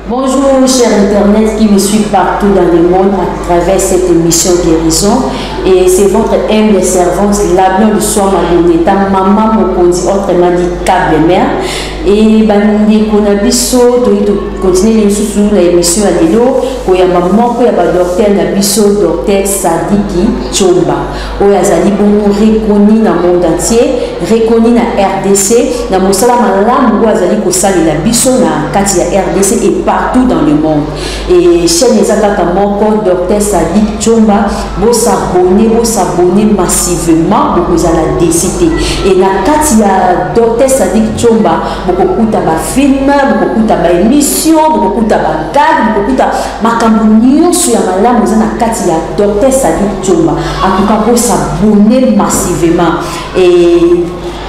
Bonjour cher Internet qui me suit partout dans le monde à travers cette émission Guérison et c'est votre humble servante Labion du Soir Maloneta, maman Mokonzi, autrement dit Cable Mère et bandeko na biso toyi tokontinue lisusu na émission ya lelo koyamba moko ya badoktere na biso docteur sadiki comba oyo azali bongo reconi na monde entier reconi na rdc na mosala malamu oyo azali kosalela biso na kati ya rdc et partout dans le monde e chaîne eza kaka moko docteur sadik chomba bosabone bosabone massivement bokozala desi te e na kati ya docteur sadik chomba bokokuta bafilme bokokuta baémission bokokuta bagage bokokuta makambo nyonso ya malamu eza na kati ya docteur sadi tsomba akoka kosa bone massivement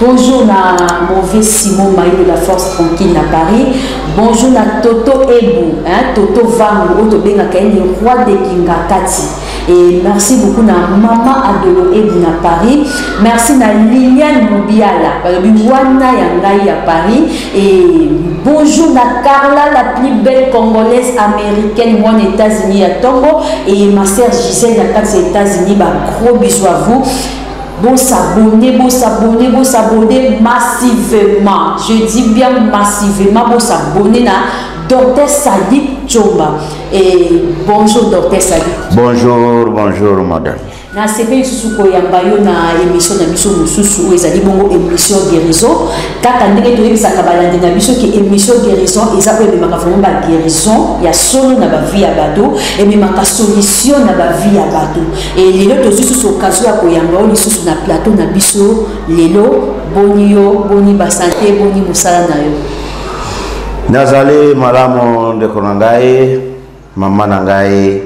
bonjour na mauvais simon mayo de la force tranquille na paris bonjour na toto ebu hein, toto vango oyo tobengaka ye le roi de kingakati Et merci beaucoup na maman Adolo Ebu na Paris. Merci na Liliane Moubiala, Wana Yangai à Paris. Et bonjour na Carla, la plus belle congolaise américaine, moi aux États-Unis à Tongo. Et ma sœur Gisèle, la carte aux États-Unis, bah, gros bisous à vous. Bon s'abonner, bon s'abonner, bon s'abonner massivement. Je dis bien massivement, bon s'abonner na Docteur Sadi Chomba. Et bonjour docteur Sadi. Bonjour, bonjour madame. na sepe lisusu koyamba yo na émission na biso mosusu oyo ezali bongo émission guérison kaka ndenge toyebisaka balandi na biso ke émission guérison eza oyo ememaka vraiment baguérison ya solo na bavie ya bato ememaka solution na bavie ya bato e lelo tozwi susu okazio ya koyamba yo lisusu na plateau na biso lelo boni yo boni basante boni mosala na yo nazali malamu ndeko na ngai mama na ngai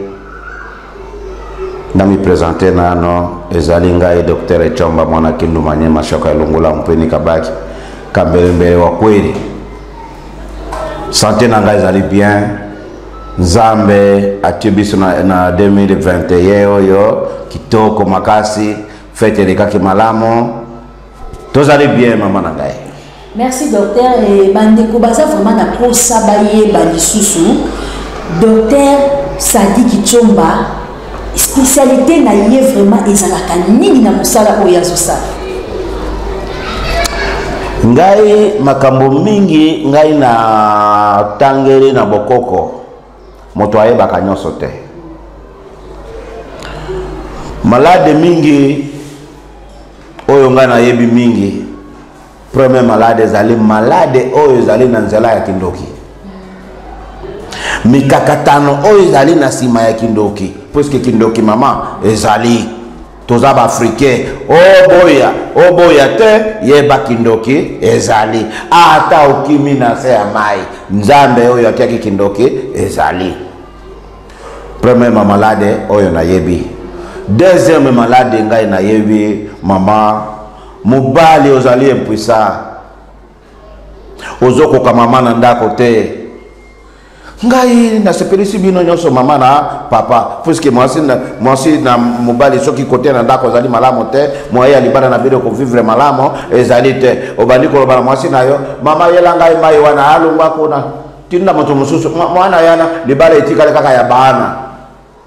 namipresente nano ezali ngai docteur ecomba mwana kindu manye mashoka elongola mpeni kabaki kambelembele wa kweli sante na ngai ezali bien nzambe atie biso na, na 2021 oyo kitoko makasi fete elekaki malamu tozali bien mama na ngai merci docteur e bandeko baza vraiment na mposa bayeba lisusu docteur sadiki comba spécialité na ye vraiment ezalaka nini na mosala oyo azosala ngai makambo mingi ngai na tangeli na bokoko moto ayebaka nyonso te malade mingi oyo ngai nayebi mingi premier malade ezali malade oyo ezali na nzela ya kindoki mikakatano oyo ezali na nsima ya kindoki puiske kindoki mama ezali toza baafricain oboya oh, oboya oh, te yeba kindoki ezali ata okimi na se ya mai nzambe oyo atiaki kindoki ezali premièrement malade oyo nayebi deuxième malade ngai nayebi mama mobali ozali impuissant ozokoka mama na ndako te ngai nasepelisi bino nyonso mama na papa puiske mwasi na, mwasi na mobali soki kote na ndako ezali malamu te moye ya libala na bino kovivre malamu ezali te obandi koloba na mwasi na yo mama yela ngai mai wana alongwa kuna tinda moto mosusu mwana yana libala etikali kaka ya baana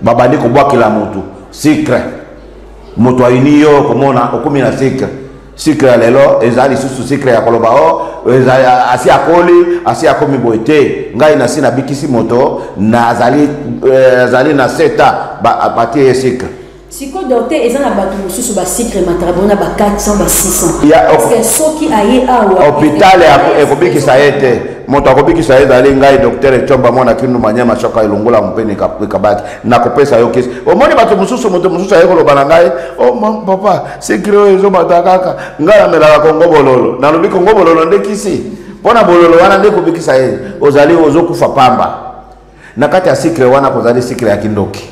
babandi kobwakela motu sikre moto ayini yo okomona okomi na sikre sikre ya lelo eza lisusu sikre ya koloba o oh, asi akoli asi akomi boye te ngai nasi nabikisi moto nazali eh, azali na seta batie ye sikre siko docteur eza na bato mosusu basikre mataka bona ba 400 ba 600 soki aye awa hopital ekobikisa ye te moto akobikisa ye ezali ngai docteur ecomba mwana kindu manyama soka elongola mpe ekabaki nakopesa yo kisi omoni bato mosusu moto mosusu aye koloba na ngai o oh, papa sikre oyo ezobata kaka ngai namelaka kongo bololo nalobi kongo bololo nde kisi mpo na bololo wana nde ekobikisa ye ozali ozokufa pamba na kati ya sikle wana kozali sikle ya kindoki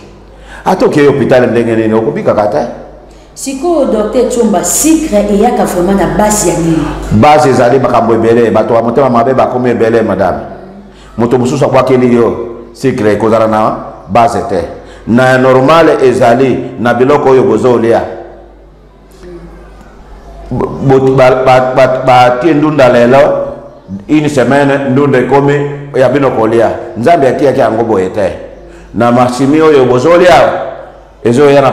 ata okei hopitale ndenge nini okobikaka te sikoyo docteur comba sikre eyaka vraimen na base ya nini base ezali makambo ebele bato ya motema mabe bakomi ebele madame moto mosusu akwakeli yo sikre ekozala na base te na normale ezali na biloko oyo bozolia batie ndunda lelo une semaine ndunda ekomi ya bino kolia nzambe atiyaki yango boye te na masimi oyo bozolia ezoya na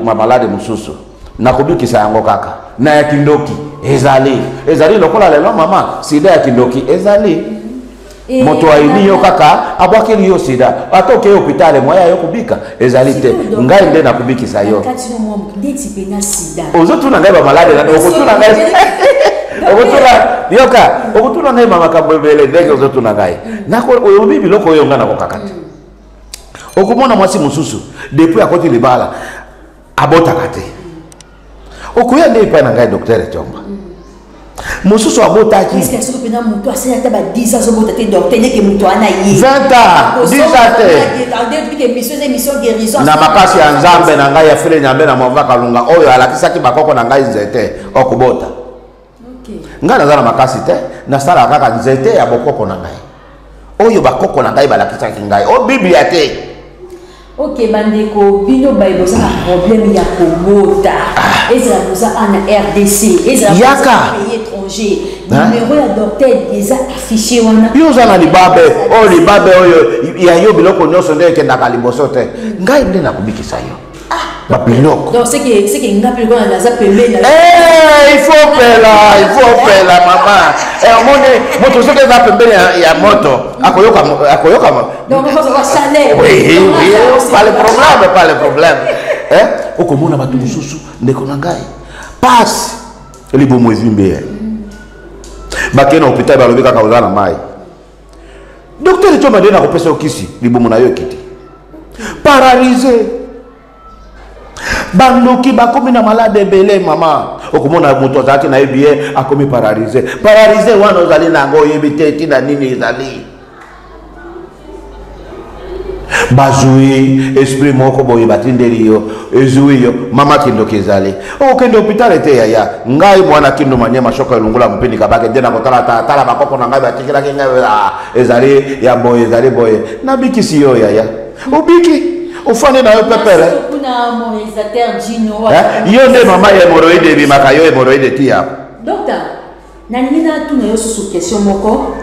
bamalade mosusu na kobikisa yango kaka na ya kindoki ezali ezali lokola lelo mama sida ya kindoki ezali Eh, moto ayini yo kaka abwakeli yo sida ata okei hopitale moya yo kobika ezali te ngai nde nakobikisa yo ozotuna ngai bamaladi okotuna ngai okotuna yoka okotuna ngai bamakambo ebele ndenge ozotuna ngai oyobi biloko oyo ngai nakokaka te okomona mwasi mosusu depuis akoti libala abotaka te okoya nde epai na ngai docteur etomba mosusu abotaki 20 ans 10 ans na makasi ya nzambe na ngai ya fele nyambe na mova kalunga oyo alakisaki bakoko na ngai nzete okobota ngai naza na makasi te nasalaka kaka nzete ya bokoko na ngai oyo bakoko na ngai balakisaki ngai o biblia te ok bandeko bino baye boza na problème ya kobota ah. ezala boza ana rdc ezalaka pays étranger numero ya docteur eza affiché wana yo oza na libabe oyo oh, libabe oyo ya yo biloko nyonso nde ekendaka liboso te ngai nde nakobikisa yo Ah, biloko donc seke seke nga mpe lokola naza pembeni eh, il faut pela il faut pela mama eh, omoni moto soki eza pembeni ya moto akoyoka akoyoka pas le problème pas le problème eh, okomona bato mosusu ndeko na ngai pasi libomo ezwi mbeya bakei na hopital balobi kaka oza na mai Docteur Choma nde nakopesa yo kisi libumu na yo ekiti. Paralyse. Bandoki bakomi na malade ebele mama. Okomona moto azalaki na ye biye akomi paralyse. Paralyse wana ozali na yango oyebi te ntina nini ezali. bazwi esprit moko boye batindeli yo ezwi yo mama kindoki ezali okokende hopitale te yaya ngai mwana kindo manyema shoko elongola mopini kabake nde nakotala tala bakoko na ngai batikelaki ngai ah, ezali ya boye ezali boye nabikisi yo yaya obiki ofandi na yo pepele eh, yo nde mama ya hemoroide ebimaka yo hemoroide tiya nalingi natuna yo susu question moko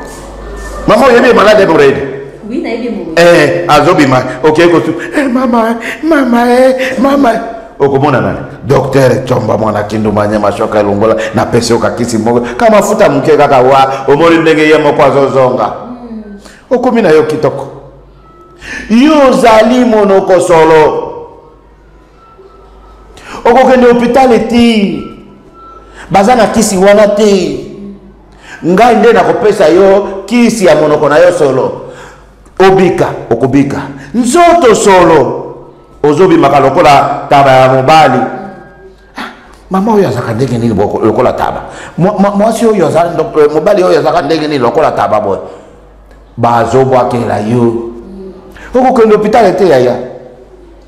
mama oyebi ye malade eborede oui nayebi mo eh azobima okei kosu eh, mama mama eh, mama okomona nani docteur comba mwana kinduma nyama shoka elongola napesi okakisi moko ka mafuta moke kaka wa omoni ndenge ye moko azozonga hmm. okomi na yo kitoko yo ozali monoko solo okokende hopitale te baza na kisi wana te ngai nde nakopesa yo kisi ya monoko na yo solo obika okobika nzoto solo ozobimaka lokola taba ya mobali ah, mama oyo azalaka ndenge nini lokola taba mwasi oyo eh, mobali oyo azalaka ndenge nini lokola taba boye bazobwakela yo okokende hopitale te yaya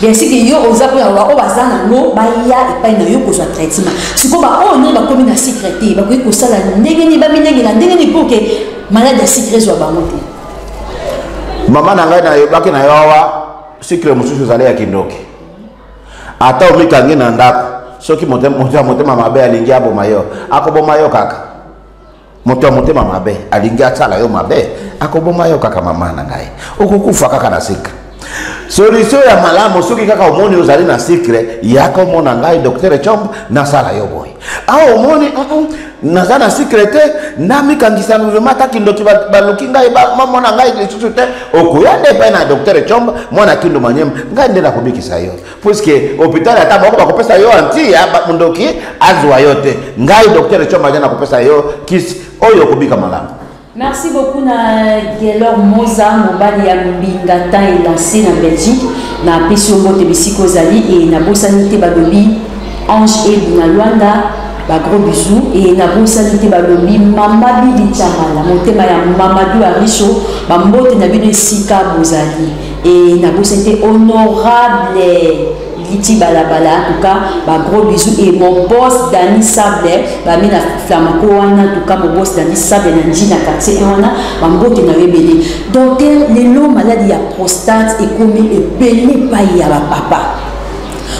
bien siki yo oza mpo ya baoyo baza nango baya epai na yo kozwa traitement sikoyo baoyo nini bakomi na sikre te bakoki kosala ndenge nini bamilengela ndenge nini mpo ke maladi ya sikre ezwa bango te mama na ngai nayebaki na yo awa sikre mosusu ezali ya kindoki ata omikangi na ndako soki motema mabe alingi aboma yo akoboma yo kaka moto ya motema mabe alingi asala yo mabe akoboma yo kaka mama na ngai okokufa kaka na sikre solisio ya malamu soki kaka omoni ozali na sikre yaka omona ngai doktere combe nasala yo boye awa omoni uh -uh, naza na sikre te namikangisa vrema ata kindoki baluki ngai bamona ngai lisusu te okoya nde epai na doktere combe mwana kindu manyema ngai nde nakobikisa yo puiske hôpital ata moko bakopesa yo anti ya mondoki azwa yo te ngai docteur ecombaja nakopesa yo kisi oyo okobika malamu merci beaucoup na gelor moza mobali ya mbinga tan elanse na belgique napesi yo mbote bisika ozali e nabosani te balobi ange ebu na lwanda bagros bisou e nabosani te balobi mama bibi chamala motema ya mamadu arisho bambote na bino esika bozali Et na bosa te honorable Liti Balabala, en tout cas, bah, gros bisous. Et mon boss Dani Sable, bah, mina flamanco, en tout cas, mon boss Dani Sable, Nanji, na quartier, et wana, bah, mbote na rebelle. Donc, les lots malades, ya prostate, et comme, et belé, pas, ya, bah, papa.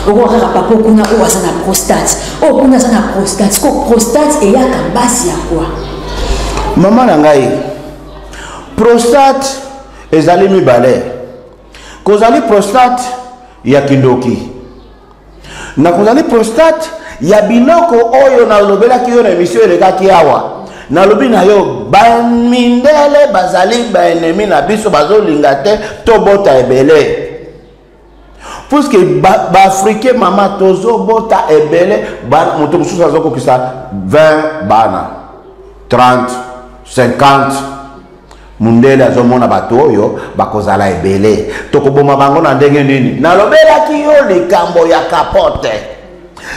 okoka kaka papa okuna oyo aza na prostate oyo okuna aza na prostate siko prostate eyaka basi ya kwa mama na ngai prostate ezali mibale kozali prostate ya kindoki na kozali prostate ya biloko oyo nalobelaki yo na emisio elekaki awa nalobi na yo bamindele bazali baenemi na biso bazolinga te tobota ebele puiske baafricain ba mama tozobota ebele moto mosusu azokokisa 20 bana 30 50 mundele azomona bato oyo bakozala ebele tokoboma bango na ndenge nini nalobelaki yo likambo ya kapote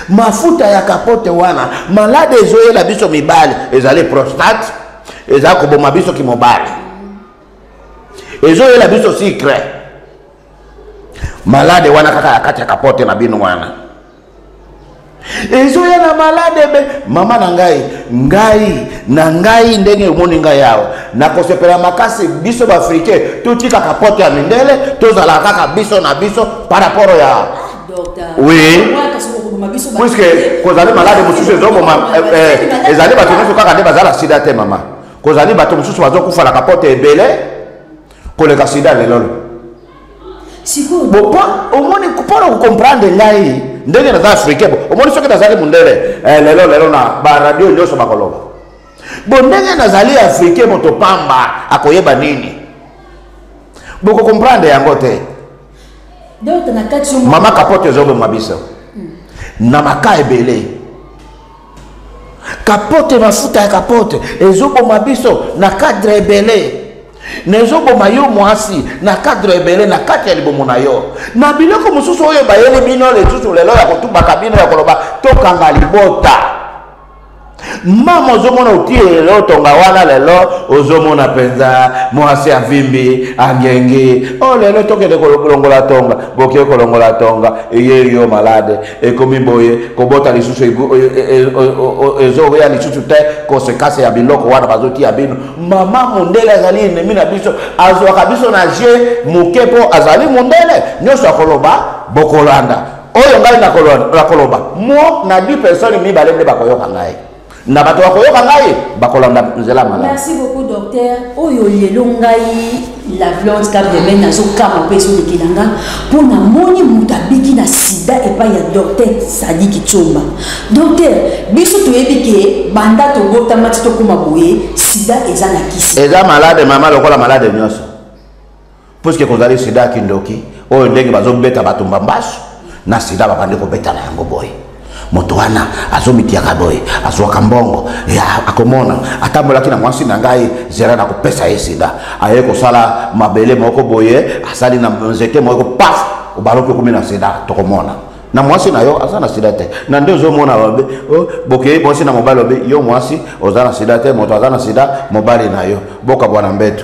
mafuta ya kapote wana malade ezoyela biso mibali ezali prostate eza koboma biso kimobali ezoyela biso sikre malade wana kaka ya kati ya kapote na bino wana ezoya na malade be mama na ngai ngai na ngai ndenge omoni ngai awa nakosepela makasi biso baafricain totika kapote ya mindele tozala kaka biso na biso par rapport ya ah, oui puiske kozali malade mosusu ezoboma eh, eh, ezali bato nyonso kaka nde bazala sida te mama kozali bato mosusu bazokufa na kapote ebele koleka sida lelolo omoni mpona kocomprendre ngai ndenge naza africain bo omoni soki nazali mondele eh, lelo lelo na baradio nyonso bakoloba bo ndenge nazali africain moto pamba akoyeba nini bokocomprendre yango te mama kapote ezoboma biso hmm. na maka ebele kapote mafuta ya kapote ezoboma biso na cadre ebele na ezoboma yo mwasi na cadre ebele na kati ya libomo na yo na biloko mosusu oyo bayeli bino lisusu lelo ya kotubaka bino ya koloba tokanga libota mama ozomona otie lelo tonga wana lelo ozomona mpenza mwasi avimbi angengi o oh, lelo tokende kolongola tonga boke kolongola tonga eye yo malade ekomi boye kobota lisusu ezoya lisusu te konsekanse ya biloko wana bazotia bino mama mondele azali enemi na biso azwaka biso na je moke mpo azali mondele nyonso akoloba bokolanda oyo ngai nakoloba mo na di personne mibale nde bakoyoka ngai na bato bakoyoka ngai bakolanda nzela malamu merci beaucoup docteur oyo lelo ngai la blonde kabreme nazokama mpe ezolekela nga mpo namoni moto abiki na sida epai ya docteur sadiki tsomba docteur biso toyebi ke banda tobotama ti tokóma boye sida eza na kisi eza malade mama lokola malade nyonso puiske kozali sida ya kindoki oyo ndenge bazobeta bato mbambasu na sida babandi kobeta na yango boye moto wana azomitiyaka boye azwaka mbongo akomona atambolaki na mwasi na ngai zela na kopesa ye sida aye kosala mabele moko boye asali na nzete moko paf obaloki okomi na sida tokomona na mwasi na yo aza na sida te na nde ozomona babe oh, bokei mwasi na mobali babe yo mwasi oza na sida te moto aza na sida mobali na yo bokabwana mbeto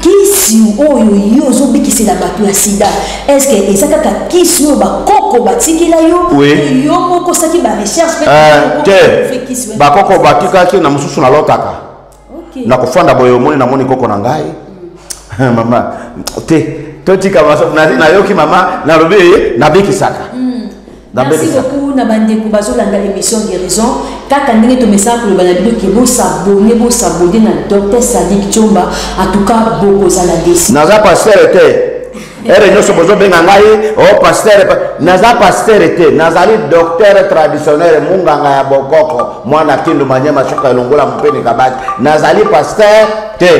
kisi oyo yo ozobikisela bato ya sida eske eza kaka kisi oyo bakoko batikela yo yo moko osaki barecherche eh, te bakoko batikaki na mosusu nalotaka nakofanda boye omoni namoni koko na ngai hmm. mama te totika nayoki mama nalobi nabikisaka hmm. Merci beaucoup na bandeko bazolanda émission guérison kaka ndenge tomesaka koloba na bino ke bosabone bosabone na docteur sadik tiomba atuka bokozala desi naza pastere te ere nyonso bozobenga ngai o oh, pastere naza pastere te nazali docteur traditionnel munganga ya bokoko mwana kindu manyema suka elongola mopeni kabaki nazali pastere te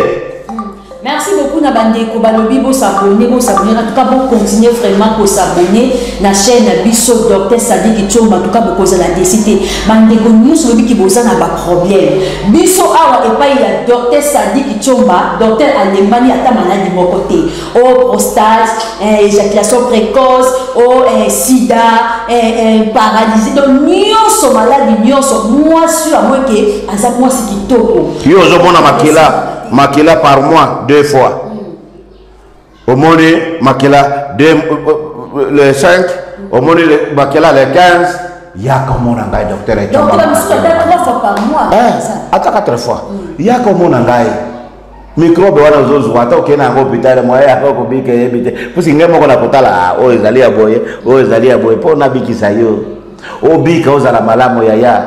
Merci beaucoup na bandeko balobi bo s'abonner bo s'abonner en tout cas bo continuer vraiment ko s'abonner na chaîne na biso docteur Sadiki Chomba en tout cas bokoza la décité bandeko nyonso lobi ki boza na ba problème biso awa epai ya docteur Sadiki Chomba docteur alembani ata maladi moko te o oh, prostate eh, éjaculation précoce o oh, eh, sida eh, eh, paralysie donc nyonso maladi nyonso mwasi oyo amoi ke aza mwasi kitoko yo ozomona makila makila par mois deux fois omoni makila euh, euh, le 5 omoni makila le 15 yaka omona ngai docteur ata 4 fois mm. yaka omona ngai mikrobe wana ozozwa ata okei na yango hopitale moye yaka okobika eyebi te pusi ngai moko nakotala ah, oyo ezali ya boye oyo ezali ya boye mpo nabikisa yo obika ozala malamu yaya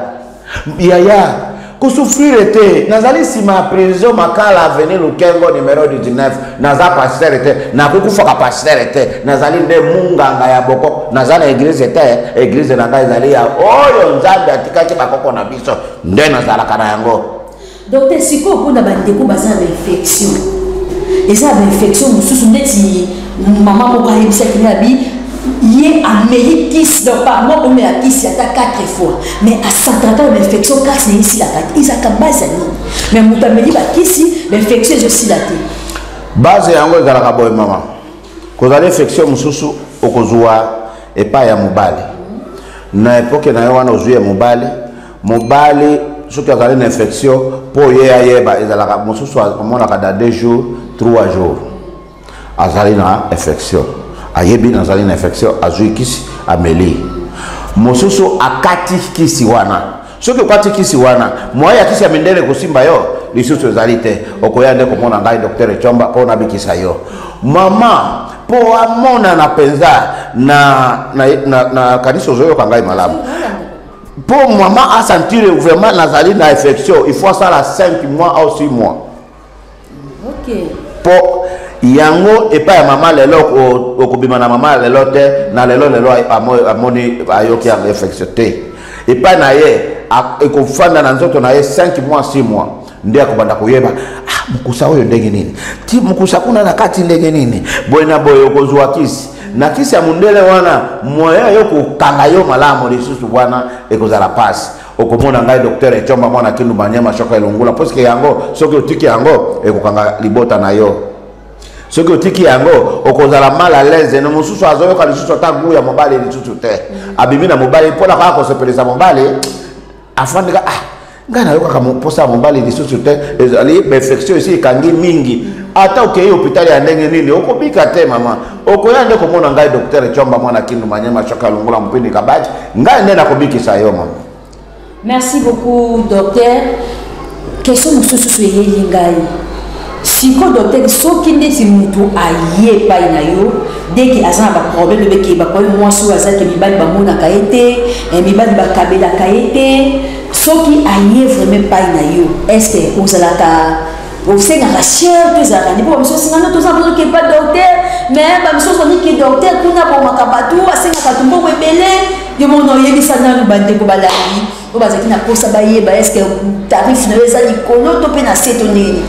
yaya kosufrire te nazali nsima ya prison makala aveni lukengo numero 19 naza pastere te nakokufaka pastere te nazali nde munganga ya boko naza na eglize te eglize na ngai ezali ya oyo nzambe atikaki bakoko na biso nde nazalaka na yango Docteur sikoyo mpona bandeko baza na infection eza ba infection mosusu ndeti mama moko ayebisaki na bi ye ameli kisi donc pardon omela kisi ata 4 fois mais asantraka na bainfection kasi naye esilaka te ezalaka base ya nini mais moto ameli bakisi bainfection ezosila te base yango ezalaka boye mama kozala infection mosusu okozwa epai ya mobali na epoke na yo wana ozwi ya mobali mobali soki azali na infection mpo ye ayeba ezalaka mosusu amonaka da deux jours trois jours azali na infection ayebi nazali na infection azwi kisi ameli mosusu akati kisi wana soki okati kisi wana moye ya kisi ya mindele ekosimba yo lisusu ezali te okoya nde komona ngai docteur ecomba mpo nabikisa yo mama mpo amonana mpenza na, na, na, na kanisi ozoyoka ngai malamu mpo mama asentire vraiment nazali na infection il faut asala 5 mois au 6 mois okay. mpo yango epai ya mama lelo okobima na mama lelo te na lelo lelo amoni ayoki yango infection te epai na ye ekofanda na nzoto na ye 5 mois 6 mois nde akobanda koyeba ah, mokusa oyo ndenge nini ti mokusa kuna na kati ndenge nini boye na boye okozwa kisi na kisi ya mondele wana moyen yo kokanga yo malamu lisusu wana ekozala mpasi okomona ngai docteur ecomba mwana kindu banyama shoko elongula puiske yango soki otiki yango ekokanga libota na yo soki otiki yango okozala mal à l'aise no mosusu azoyoka lisusu ata gu ya mobali lisusu te abimi na mobali mpo na kaka kosepelisa mobali afandaka ah ngai nayokaka mposa ya mobali lisusu te ezali perfection esi ekangi mingi ata okei hôpital ya ndenge nini okobika te mama okoya nde komona ngai docteur chomba mwana kindu manyema shoka longola mopini kabati ngai nde nakobikisa yo mama merci beaucoup docteur kestion mosusu so eyeli ngai siko docteur soki ndeti motu aye epai na yo deki aza na baproblème ebeke bakoye mwasi oyo aza te mibali bamonaka ye te eh, mibali bakabelaka ye te soki aye vraiment epai na yo estce ozalaka osengaka sher to ezalaka nde mpo bamisu osengana toza bozoki epa docteur mais bamisu ozoniki docteur kuna abomaka bato asengaka bato mbongo ebele yo mona oyebisa nanu bandeko balandi oyo bazalaki na mposa bayeba eske tarif na yo eza likolo to mpe na se to ndenge nini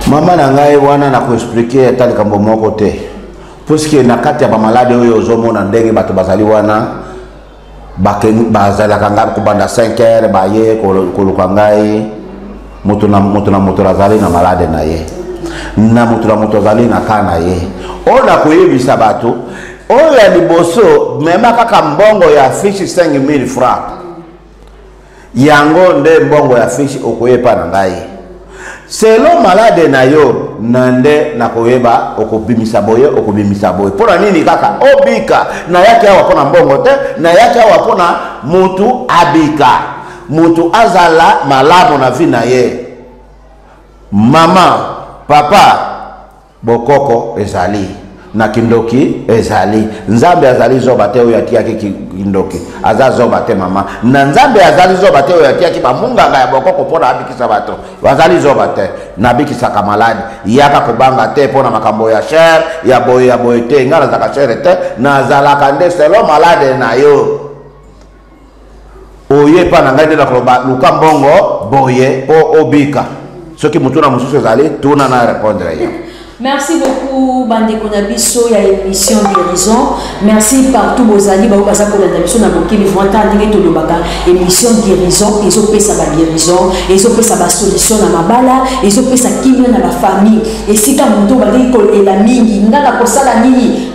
mama na ngai wana na koexplike ata likambo moko te puiske na kati ya bamalade oyo ozomona ndenge bato bazali wana bazalaka ngai kobanda 5 heure baye koluka ngai moto na moto na moto azali na malade na ye na moto na moto azali na kaa na ye oyo nakoyebisa bato oyo ya liboso mema kaka mbongo ya fishi 5000 franc yango nde mbongo ya fishi okoyepa na ngai selo malade na yo na nde nakoyeba okobimisa boye okobimisa boye mpo na nini kaka obika nayaki awa mpo na mbongo te nayaki awa mpo na motu abika Moto azala malamu na vie na ye. Maman, papa, bokoko ezali. na kindoki ezali nzambe azali zoba te oyo atiyaki kindoki aza zoba te mama na nzambe azali zoba te oyo atiyaki bamunganga ya bokoko mpo na abikisa bato bazali zoba te nabikisaka maladi yaka kobanga te mpo na makambo ya shere ya boye ya boye te ngai nazalaka shere te nazalaka nde selo malade na yo oye epa na ngai nde nakoloba luka mbongo boye mpo obika soki motuna mosusu ezali tuna na repondre ye merci beaucoup bandeko na biso ya émission guérison merci partout bozali bango baza kolanda biso na mokili vranta ndenge tolobaka émission guérison ezopesa baguérison ezopesa basolution na mabala ezopesa kimia na bafamille esika moto bandeki kolela mingi nga na kosala nini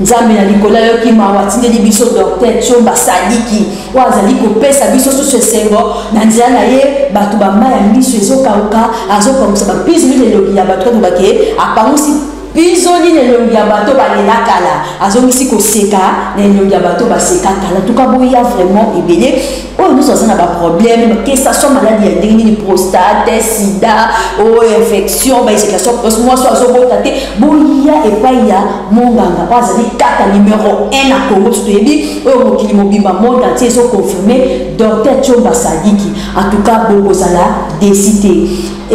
Nzambe na likolo ayoki mawa, atindeli biso Docteur Tshomba Sadiki oyo azali kopesa biso susu esengo na nzela na ye. Bato bama ya miso ezokauka, azopangusa bapizoli na elongi ya bato. Koloba ke apangusi pizoli na elongi ya bato balela kala, azongisi koseka na elongi ya bato baseka kala. Tuka boya vraiment ebele. oyo nyonso aza na baproblème que ça soit maladi ya ndenge nini prostate sida o oh, infection baesecation precoce mwasi oyo azobota te boya epai ya monganga oyo azali kaka numero 1 na congo biso toyebi oyo mokili mobimba monde antie ezoconfirme docteur tiomba sadiki en tout cas bokozala desi te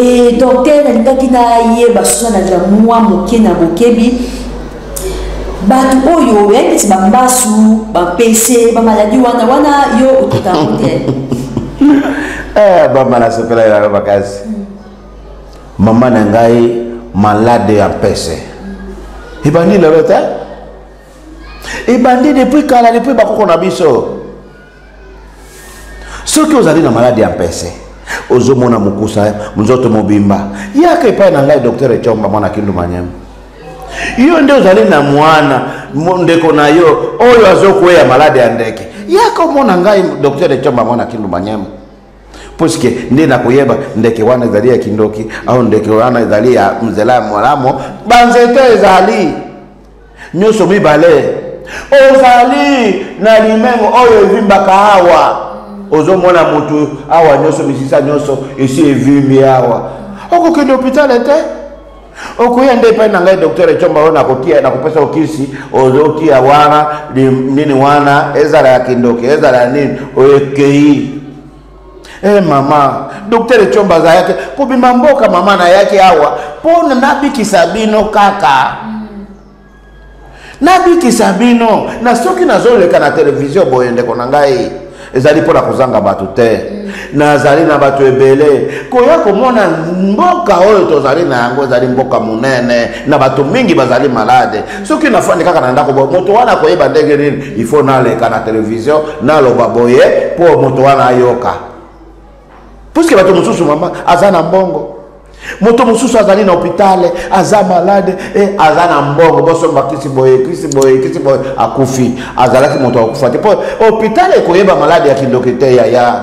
e docteur nalingaki nayeba soki na mwa moke na bokebi bato oyo oyaki neti bambasu bampese bamaladi wana wana yo otuta yango te eh, bamba nasepelaki nayo makasi mama na ngai malade ya mpese ebandi lelo te ebandi depuis kala depuis bakoko na biso soki ozali na maladi ya mpese ozomona mokusa nzoto mobimba yaka epai na ngai docteur ecomba mwana kindu manyema yo nde ozali na mwana ndeko na yo oyo azokweya maladi ya ndeke yaka omona ngai docteur ecomba mwana kindu manyema puiske nde nakoyeba ndeke wana ezali ya kindoki au ndeke wana ezali ya nzela ya malamu banzete ezali nyonso mibale ozali na limengo oyo evimbaka awa ozomona motu awa nyonso misisa nyonso esi evimbi awa okokende hopitale te okoya nde epai na ngai docteur ecomba oyo nakotia nakopesa okisi ozotia wana nini wana ezala ya kindoki ezala ya nini oyo ekei Eh mama, docteur Echomba azalaki kobima mboka mama nayaki awa mpo nabikisa bino kaka nabikisa bino na soki nazoleka na televizio boye ndeko na ngai ezali mpo na kozanga bato te nazali na bato ebele koya komona mboka oyo tozali na yango ezali mboka monene na bato mingi bazali malade soki nafandi kaka na ndako boye moto wana akoyeba ndenge nini il faut naleka na televizio naloba boye mpo moto wana ayoka puiske bato mosusu mama aza na mbongo moto mosusu azali na hopitale aza malade e aza na mbongo bosomba kisi boye kisi boye kisi boye akufi azalaki moto akufa te mpo hopitale ekoyeba malade ya kindoki te yaya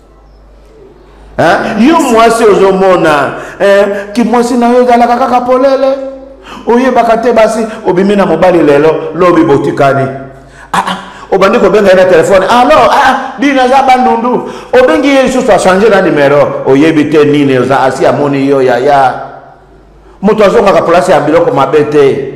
Hein? yo mwasi ozomona eh, kimwasi na yo ezalaka kaka polele oyebaka te basi obimi na mobali lelo lobi botikani ah, ah obandi kobenga ye na telefone alo ah, ah, bino aza bandundu obengi ye lisusu achange na nimero oyebi te nini oza asi amoni yo yaya moto azongaka place ya biloko mabe te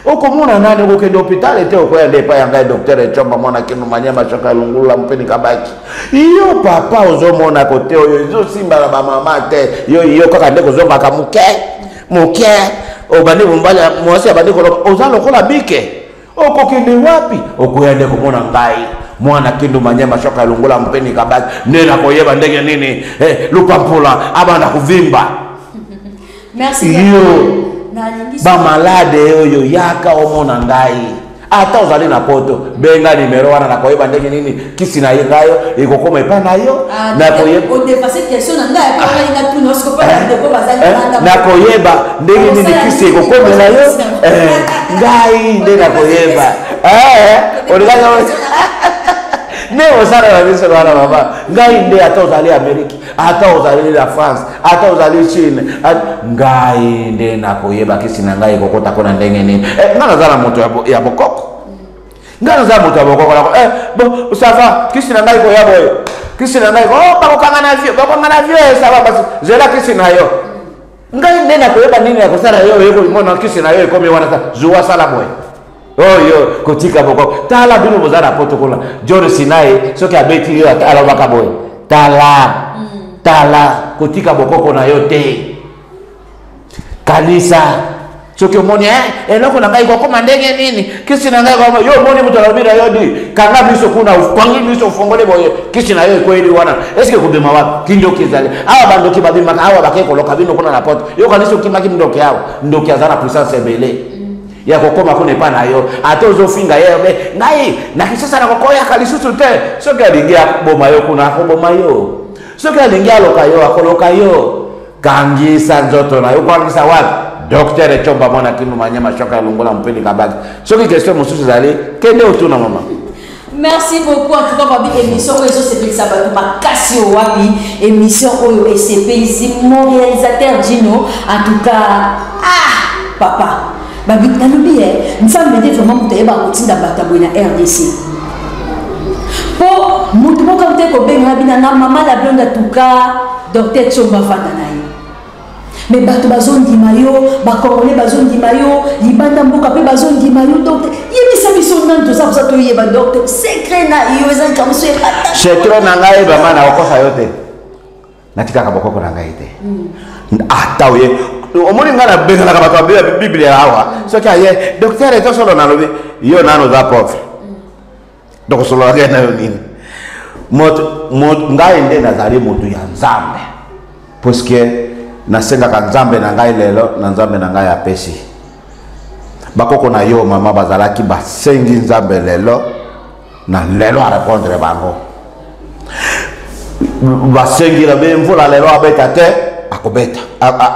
okomona nani okokende hôpital ete okoya nde epai ya ngai docteur ecomba mwana kino mania mashoka ya lungulula mopeni kabaki yo papa ozomona kote oyo ezosimba na bamama te yo yo kaka nde kozongaka moke moke obandi mobali mwasi abandi koloba oza lokola bike okokende wapi okoya nde komona ngai mwana kendo manyama soki alongola mpeni kabaki nde nakoyeba ndenge nini eh, lupampula abanda kovimba yo bamalade oyo yaka omona ngai ata ozali na poto benga nimero wana nakoyeba ndenge nini kisi na ye ngayo ekokoma epai na yo ah, nakoyeba ndenge nini kisi ekokomela yo eh, ngai nde nakoyeba eh, olingaka nde osala na biso wana mama ngai nde ata ozali amerike ata ozali la france ata ozali chine ngai nde nakoyeba kisi na ngai ekokota mpo na ndenge nini eh, ngai naza na moto ya bokoko ngai naza moto ya bokokola ko eh, bon ça va kisi na ngai koya boye kisi na ngai oh, bakokanga na vie bakokanga na vie eh, ça va basi zela kisi na yo ngai nde nakoyeba nini ya kosala yo oyekomona kisi na yo ekomi wana ta zuwa sala boye oyo oh, kotika bokoko tala bino boza na poto kuna jori sinai soki abeti yo alobaka boye tala mm. tala kotika bokoko na yo te kanisa soki omoni eh, eloko na ngai kokoma ndenge nini kisi na ngai kokoma yo omoni moto alobi na yo di kanga miso kuna opangi miso ofongoli boye kisi na yo ekweli wana eske kobima wapi kindoki ezali awa bandoki babimaka awa bakei koloka bino kuna na pote yo kanisi okimaki ndoki awa ndoki aza na puissance ebele ya kokoma kuna epai na yo ata ozofinga ye be ngai na kisasa na kokoyaka lisusu te soki alingi akoboma yo kuna akoboma yo soki alingi aloka yo akoloka yo kangisa nzoto na yo okangisa wapi docteur ecomba mwana kindu manyama shoka longola mpeni kabaki soki question mosusu ezali kende otuna mama merci beaucoup en tout cas babi émission oyo ezosepelisa bato makasi oyo wapi émission oyo esepelisi mon réalisateur dino en tout cas ah papa babi nalobi ye nzambe nde vraiment moto ayeba kotinda bato boye na rdc mpo moto moko te kobenga bina na mama la blonde atuka docteur tsongo afanda na ye me bato bazondima yo bakongole bazondima yo libanda mboka mpe bazondima yo docteur yebisa biso nani toza koza toyeba docteur secret na yo eza likambo so ebata secret na ngai ebama na okosa yo te natikaka bokoko na ngai te ata oye omoni ngai nabenganaka bato babeya biblia awa soki aye doktere tosolo nalobi yo nano oza pauvre donc osololaka ye nayo nini ngai nde nazali moto ya nzambe puiske nasengaka nzambe na ngai lelo na nzambe na ngai apesi bakoko na yo mama bazalaki basengi nzambe lelo na lelo arepondre bango basengila be mvula lelo abeta te akobeta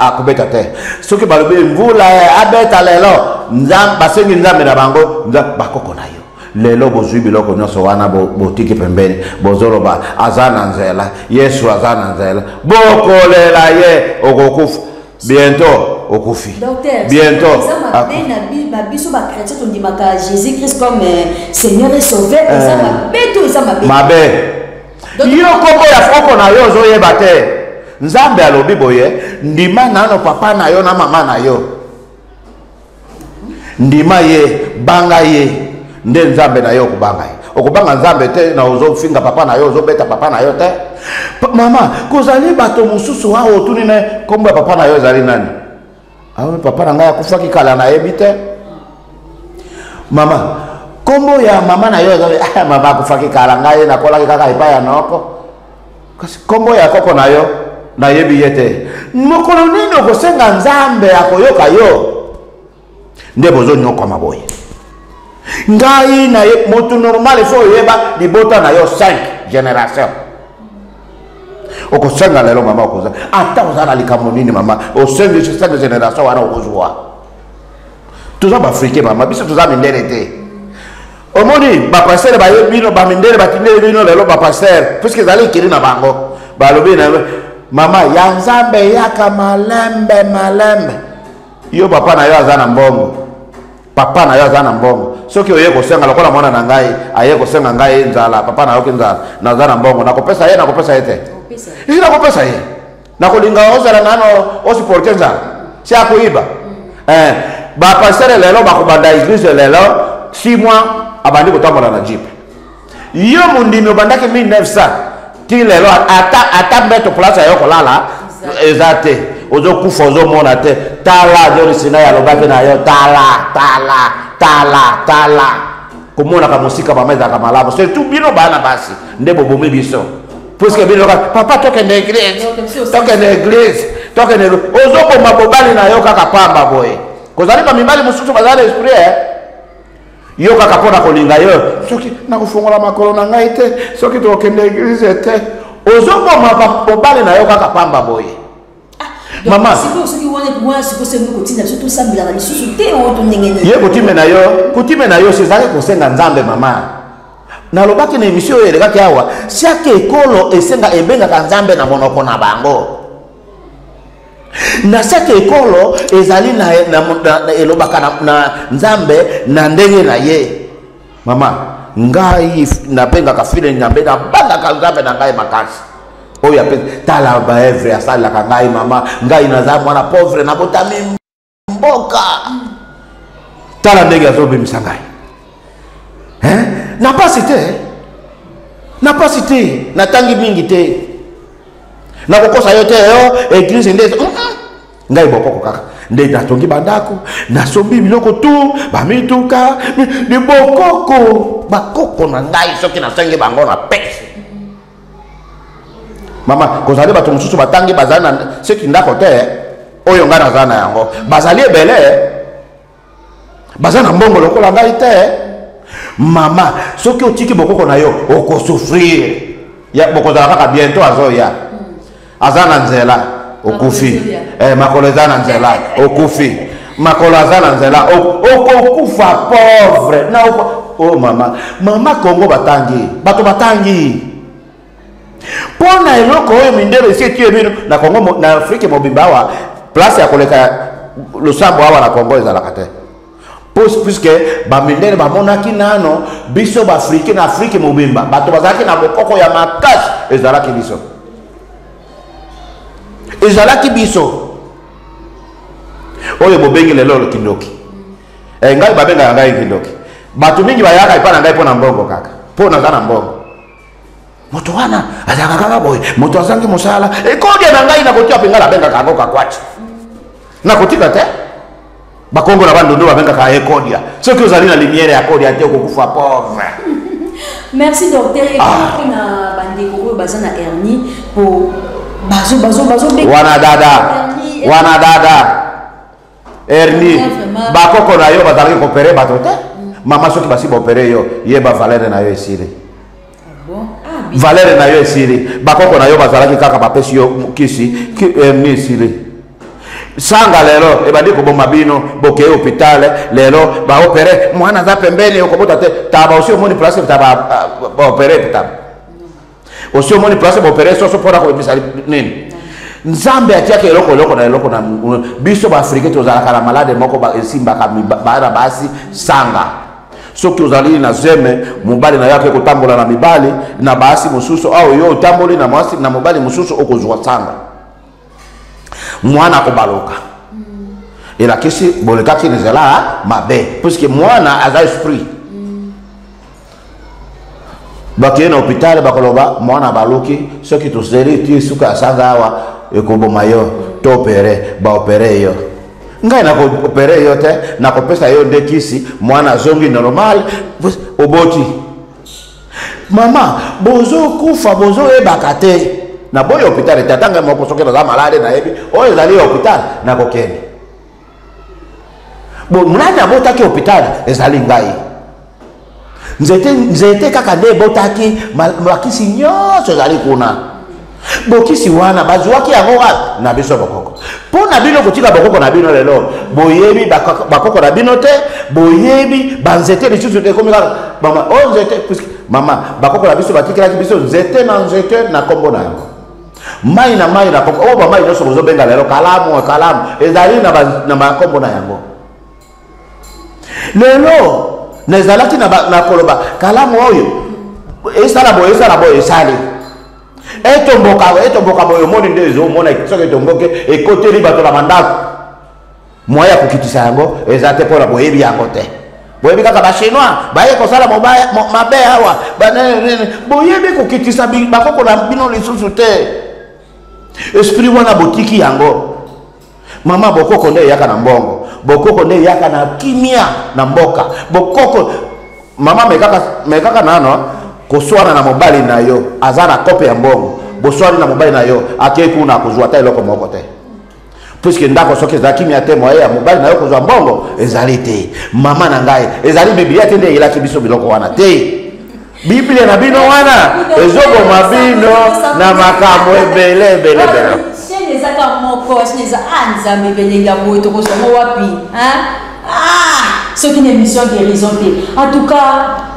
akobeta te soki balobi mvula abeta lelo basengi nzambe na bango bakoko na yo lelo bozwi biloko nyonso wana botiki pembeni bozoloba aza na nzela yesu aza na nzela bokolela ye okokufa bientôt okufi bientôt ah. na biso bachrétien tondimaka jésus christ comme euh, seigneur et sauveur eh. eza mabe to eza mabe mabe yo kombo ya foko na yo ozoyeba te nzambe alobi boye ndima nano papa na yo na mama na yo ndima ye banga ye nde nzambe na ye okobanga ye okobanga nzambe te na ozofinga papa na yo ozobeta papa na yo te mama kozali bato mosusu awa otuni na nkombo ya papa na yo ezali nani awe ah papa na ngai akufaki kala nayebi te mama nkombo ya mama na yo ezali ah, mama akufaki kala ngai nakolaki kaka epai ya noko kasi nkombo ya koko na yo nayebi ye te mokolo nini okosenga nzambe akoyoka yo nde bozonyokwama boye ngai na ye motu normal efo oyeba libota na yo 5 génération okosenga lelo mama okoza ata oza na likambo nini mama osengi 5 génération wana okozwa toza baafrike mama biso toza mindele te omoni bapastere bayebi bino bamindele batindeli bino lelo bapastere puiske ezali ekeli na bango balobi na mama ya nzambe eyaka malembe malembe yo papa na yo aza na mbongo papa na yo aza na mbongo soki oye kosenga lokola mwana na ngai aye kosenga ngai nzala papa nayoki nzala naza na mbongo nakopesa ye nakopesa ye te ii nakopesa ye nakolinga ozala nano osiporte nzala si akoyiba eh, bapastere lelo bakobanda eglise lelo si mwa abandi kotambola na jipe yo mondimi obandaki 1900 ti lelo ata mbeto place ayo kolala eza te ozokufa ozomona te tala jolisina yalobaki na yo tala tala tala tala komonaka mosika mama ezalaka malamu surtout bino bana basi nde bobomi biso puiske bino kaka papa tokende eglise tokende eglise tokende ozoboma bobali na yo kaka pamba boye kozali bamibali mosusu bazali na esprit eh? yo kaka mpo na kolinga yo soki nakofungola makolo na ngai te soki tokokende eglise te ozoboma bobali na yo kaka pamba boye ye kutime na yo kutime na yo sezalaki kosenga nzambe mama nalobaki na emisio oyo elekaki awa siaki ekolo esenga ebengaka nzambe na monoko na bango na siaki ekolo ezali na, na, na, na elobaka na, na nzambe na ndenge na ye mama ngai nabengaka file nyambe nabangaka nzambe na ngai makasi oyo apesi tala baevre asalelaka ngai mama ngai naza mwana pauvre nabotami mboka tala ndenge azobimisa ngai na mpasi te na mpasi te natangi mingi te nakokosa yo te yo eglise nde ngai bokoko kaka nde natongi bandako nasombi biloko tu bamituka ni bokoko bakoko na ngai soki nasengi bango na pesi mama kozali bato mosusu batangi bazali na soki ndako te oyo ngai nazali na yango bazali ebele baza na mbongo lokola ngai te mama soki otiki bokoko na yo okosouffrir bokozala kaka bientôt azoya aza na nzela okufi eh, makolo eza na nzela okufi makolo aza na nzela okokufa pauvre na o oh, mama mama kongo batangi bato batangi mpo na eloko oyo mindele esi etie bino na kongo na afrike mobimba awa place ya koleka losambo awa na kongo ezalaka te puisque bamindele bamonaki nano biso baafrike na afrike mobimba bato bazalaki na bokoko ya makasi ezalaki biso ezalaki biso oyo bobengi lelo kindoki e, ngai babengaka ngai kindoki bato mingi bayaka epai na ngai mpo na mbongo kaka mpo naza na mbongo moto wana azalaka kaka boye moto azangi mosala ekodia na ngai nakotia mpenga nabengaka yango kakwati nakotika te bakongo na bandondo babengaka ekodia soki ozali na limiere ya kodia te okokufa pauvre merci docteur ah. mpona bandeko oyo baza na hernie po bazo bazo bazo wana dada wana dada erni bakoko na yo bazalaki kopere bato te mama soki basi baopere yo yeba valere na yo esili valere na yo esili bakoko na yo bazalaki kaka bapesi yo kisi erni esili sanga lelo ebandi koboma bino bokei hopitale lelo baopere mwana aza pembeni okobota te taba osi omoni place taba baopere taba osi omoni place baopere soso mpona kobimisa nini nzambe atiaka eloko eloko na eloko na biso baafrike tozalaka na malade moko esimbaka bana basi sanga soki ozali na zeme mobali na yo ake kotambola na mibali na basi mosusu awa yo otamboli na mwasi na mobali mosusu okozwa sanga mwana akobaloka elakisi bolekaki na nzela mabe puiske mwana aza esprit bakei na hopitale bakoloba mwana abaloki soki toseli ti suka ya sanga awa ekoboma yo to opere baopere yo ngai nakoopere yo te nakopesa yo nde kisi mwana azongi normal oboti mama bozokufa bozoyebaka te na boyi hôpital ete atanga moko soki naza malade nayebi oyo ezali ya hôpital nakokende nani abotaki hôpital ezali ngai nzete nzete kaka nde ebotaki bakisi nyonso ezali kuna Bokisi wana bazuaki yango wapi? Na biso bokoko. Mpo na bino kotika bokoko na bino lelo, boyebi bakoko na bino te, boyebi banzete lisusu te, ekomi kaka mama oyo oh, nzete, puisque mama bakoko na biso batikelaki biso nzete na nzete na nkombo na yango mai na mai na koko oyo oh, bamai nyonso bozobenga lelo kalamu kalamu ezali na bankombo na yango lelo nazalaki na koloba kalamu oyo esala boye esala boye esali etomboka etomboka boye omoni nde ezomona soki etomboki ekoteli bato na bandako moye ya kokitisa yango eza te mpona boyebi yango te boyebi kaka bachinois baye kosala mabe awa boyebi kokitisa bakoko na bino lisusu te esprit wana botiki yango Mama bokoko nde eyaka na mbongo, bokoko nde eyaka na kimia na mboka. Bokoko mama mekaka mekaka nano koswana na mobali na yo aza na kope ya mbongo, boswani na mobali na yo akei kuna akozwa ata eloko moko te puiske ndako soki ezalaki mia te moye ya mobali na yo kozwa mbongo ezali te mama na ngai ezali biblia te nde eyelaki biso biloko wana te biblia na bino wana ezoboma bino na makambo ebele ebele ebele shene eza ka moko shene eza a ah, nzambe belenge ya boye tokozwango wapi ah, soki na émission guérison te en tout cas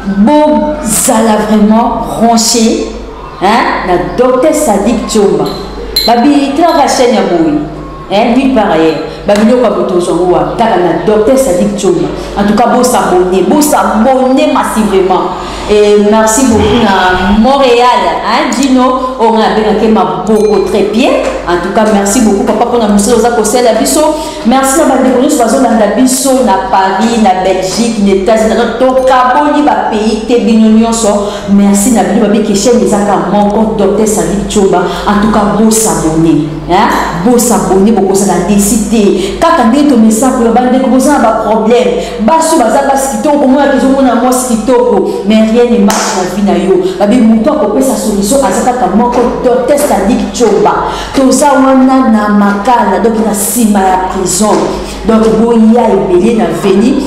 bozala vraiment ranche na docteur sadik comba babi trava chaine ya boye Eh, puis par ailleurs, ba biloko ya moto ozwa ngo wapi kaka na docteur sadik tsonga en tout cas bosabone bosabone massivement et merci beaucoup na montréal hein, dino oyo ngai abengaki maboko trepie en tout cas merci beaucoup papa mpona mosala oza kosala biso merci na bandeko nyonso bazolanda biso na paris na belgique na états-unis tokaboli bapays te bino nyonso merci na bino babiki chaine ezaka moko docteur sadik tsonga en tout cas bosabone Hein? bosabone bokosaka desi te kaka nde tomesakola bandeko boza na baproblème basi oyo baza basi kitoko komonaka ezomona mwasi kitoko mais rien ne marche na vie na yo babi moto akopesa solution aza kaka moko testadike coba toza wana na makala donc na nsima ya prison donc boya ebele na veni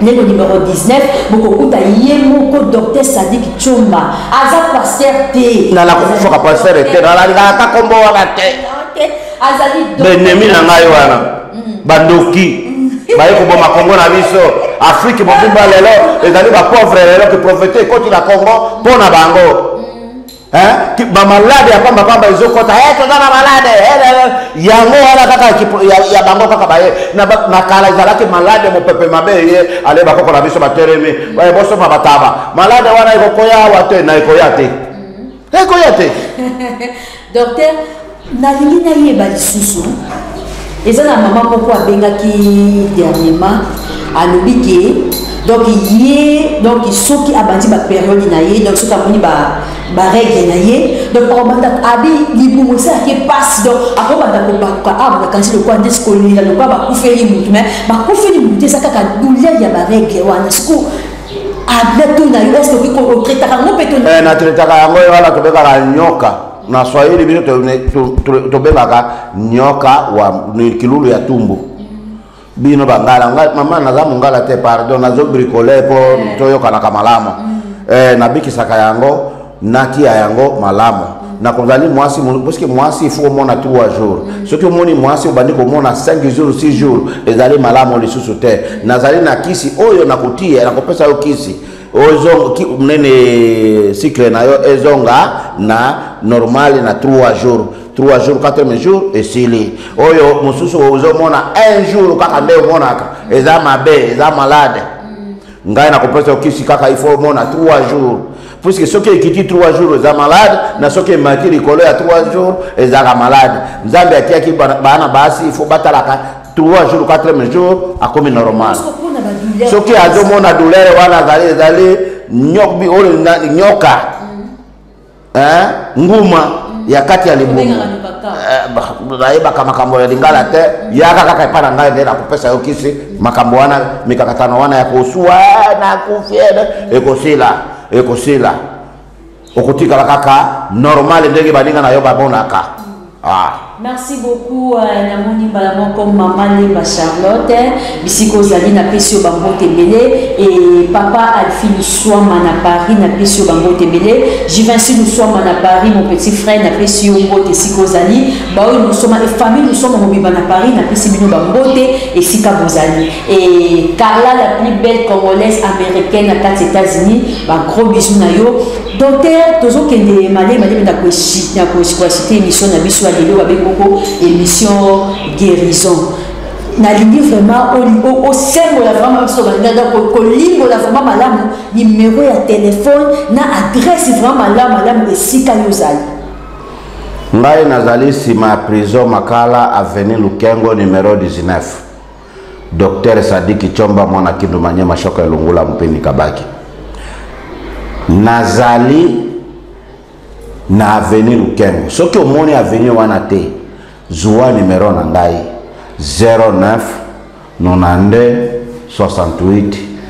neno numero 19 bokokuta ye moko docteur sadik comba aza paster te nala kokufaka paster te nalangalaka kombo wana te azali benemi na ngai wana mm. bandoki mm. baye koboma kongo na biso afrike mobimba lelo ezali bapauvre lelo ke profete ekoti na kongo mpo na bango hein ba malade ya pamba pamba ezo kota eh toza na malade eh, yango wana kaka ya, ya bango kaka baye na makala ezalaki malade mopepe mabe ye ale bakoko na biso batelemi eh, bosomba bataba malade wana ekokoya awa te na ekoya te mm-hmm. ekoya te docteur nalingi nayeba lisusu eza na mama moko abengaki dernièrement alobi ke donc ye donc soki abandi baperiode na ye donc soki amoni barègle na ye donc akobanda abi libumu esalaki mpasi donc akobanda kobaluka awa ah, bakanisi lokola nde sikolela lokola bakufeli motu mai bakufeli motu eza kaka douleur ya barègle wana siko abla ah, to na yo eske okoki kotraitaka yango mpe to eh, na traitaka yango yo wana tobekaka nyoka na swahili bino tobengaka nyoka wa kilulu ya tumbu bino bangala ngai mama naza mongala te pardon nazo bricole mpo eh. toyokanaka malamu mm. eh, nabikisaka yango natia yango malamu mm. nakozali mwasi parceke mwasi ifo omona 3 jours mm. soki omoni mwasi obandi komona 5 jours 6 jours ezali malamu lisusu te nazali na kisi oyo nakotia nakopesa yo kisi ozonga ki nene cycle na yo ezonga na normal na 3 jours 3 jours 4 jours esili oyo mosusu ozomona un jour kaka nde omonaka eza mabe eza malade ngai nakopesa yo kisi kaka il faut omona 3 jours puisque soki ekiti 3 jours eza malade na soki emati likolo ya 3 jours ezalaka malade nzambe atiaki bana basi il faut batalaka trois jours quatrième jour akomi normal soki azomona douleur wana azali ezali oyo nyoka mm. nguma mm. ya kati ya libumu nayebaka eh, makambo ya lingala te mm. yaka kaka epai na ngai nde nakopesa yo kisi makambo wana mikakatano wana ya kosuwa eh, nakufi eh, ekosila ekosila okotikala kaka normal ndenge baninga na yo bamonaka ah. merci beaucoup euh, namoni mbala moko mama lemba charlotte bisika ozali napesi yo bambote ebele e papa alfi luswama na paris napesi yo bambote ebele jivinci luswama na paris mon petit frère napesi yo mbote esika ozali baoyo lusoma efamille lusoma mobimba na paris napesi bino bambote esika bozali Et Carla, la plus belle congolaise américaine à quatre États-Unis, bah, gros bisous na yo. Docteur, tozo kende malé malé mais d'accord si d'accord si quoi c'était émission na bisous à l'élo avec beaucoup émission guérison. Na lingi vraiment au au au symbole la vraiment sur la nada ko ko lingo la vraiment malamu numéro ya téléphone na adresse vraiment malamu malamu esika yo zali. Ngai nazali sima prison makala avenue Lukengo numéro 19. Docteur Sadiki Chomba mwana Kindu Manyema Shoko ya Lungula Mpeni Kabaki. Nazali na avenue Lukengo. Soki omoni avenue wana te, zua numero na ngai 09 92 68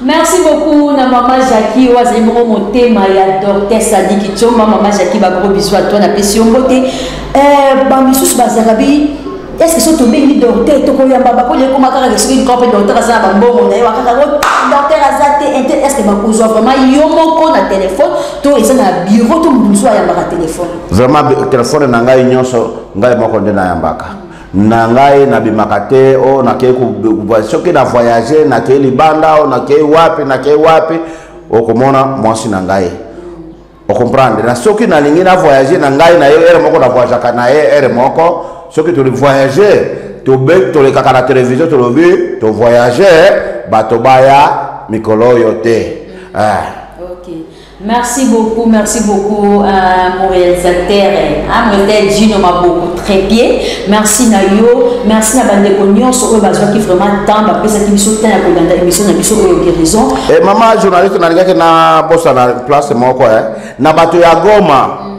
Merci beaucoup na mama Jackie oyo azali bongo motema ya docteur Sadiki Tshomba mama Jackie ba gros bisous à toi na pesi yo mbote euh ba misusu bazalaka bi est-ce que so tobengi docteur tokoyamba bakoli ekoma kaka ke soki nkope docteur aza na bambongo na ye wakaka ngo docteur aza te inte est-ce que bakozwa vraiment yo moko na telefone to eza na bureau to moto mosusu ayambaka telefone vraiment telefone na ngai nyonso ngai moko nde nayambaka na ngai nabimaka te o oh, nakei soki na voyage nakei libanda o oh, nakei wapi nakei wapi okomona mwasi na ngai ocomprendre na soki nalingi na voyage na ngai na ye ere moko na voyageaka na ye ere moko soki toli voyage tobe tolekaka na televizio tolobi tovoyage bato baya mikolo oyo te ah. Merci beaucoup, merci beaucoup euh, mon réalisateur, hein, mon réalisateur Gino Maboko, très bien. Merci na yo, merci na bande ko nyonso oyo bazwaki vraiment temps ba pesa ki biso temps ya ko landa émission na biso oyo guérison. Eh maman journaliste na lingaki na bosa na place moko eh na bato ya Goma. Mm.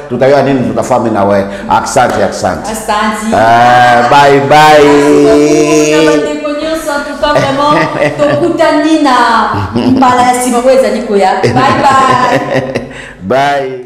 tutayoa nini tutafami na we aksanti aksanti eh, bye bye pas vraiment tokutani na mbala ya nsima oyo ezali koya bye bye bye